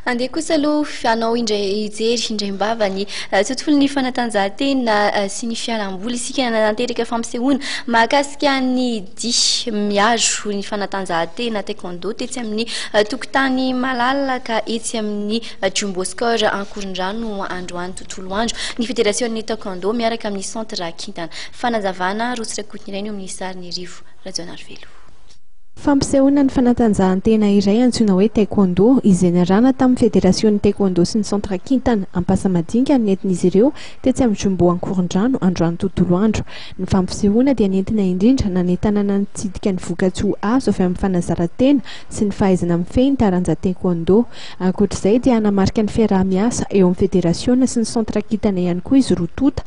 Andeha kosa aloha hanao indray hijery indray am-bava ny tontolon'ny fanatanjahantena sy ny fialamboly isika nanateraka fampisehoana mahakasika ny dihy miaro ny fanatanjahantena taekwondo tetsy amin'ny tokotany malalaka etsy amin'ny Jumbo Score Ankorondrano androany tontolo andro ny federasion'ny taekwondo miaraka amin'ny centre kintana fanazavana rotsy rakotiny ireny eo amin'ny sarin'ny rivo Rajaonarivelo Fampisehoana ny fanatanjahantena iray antsoina hoe Taekwondo, izay niarahana tamin'ny Federasionin'ny Taekwondo sy ny Centre Kintana Ampasamadinika no nentin'izy ireo tetsy amin'ny Jumbo Ankorondrano androany tontolo andro. Ny fampisehoana dia nentina indrindra nanentanana nitsidika ny vokatsoa azo avy amin'ny fanazaran-tena sy ny fahaizana mifehy ny taranja Taekwondo. Ankoatra izay dia hanamarika ny fiaraha-miasa eo amin'ny Federasiona sy ny Centre Kintana ihany koa izy roa tonta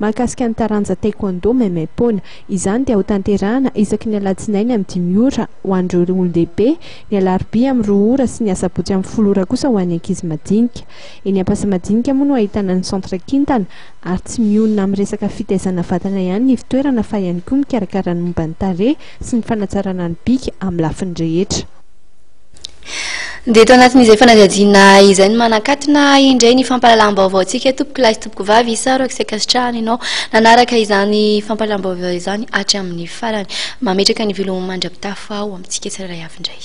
Mahakasika ny taranja Taekwondo maimaimpoana. Izany dia hotanterahana isaky ny alatsinainy amin'ny dimy ora ho an'ireo olon-dehibe, ny alarobia amin'ny roa ora sy ny asabotsy amin'ny folo ora kosa ho an'ny ankizy madinika. Eny Ampasamadinika moa no ahitana ny centre kintana ary tsy mionona amin'ny resaka fitaizana vatana ihany ny fitoerana fa ihany koa mikarakara ny momba ny tarehy sy ny fanatsarana ny bika amin'ny lafiny rehetra. Dia eto anatin'izay fanadihadiana izay no manakatona indray ny fampahalalam-baovaontsika tompoko lahy sy tompoko vavy isaorako sy ankasitrahana ianao nanaraka izany fampahalalam-baovao izany hatramin'ny farany. Mametraka ny volo mandra-pitafo aho amintsika tsirairay avy indray.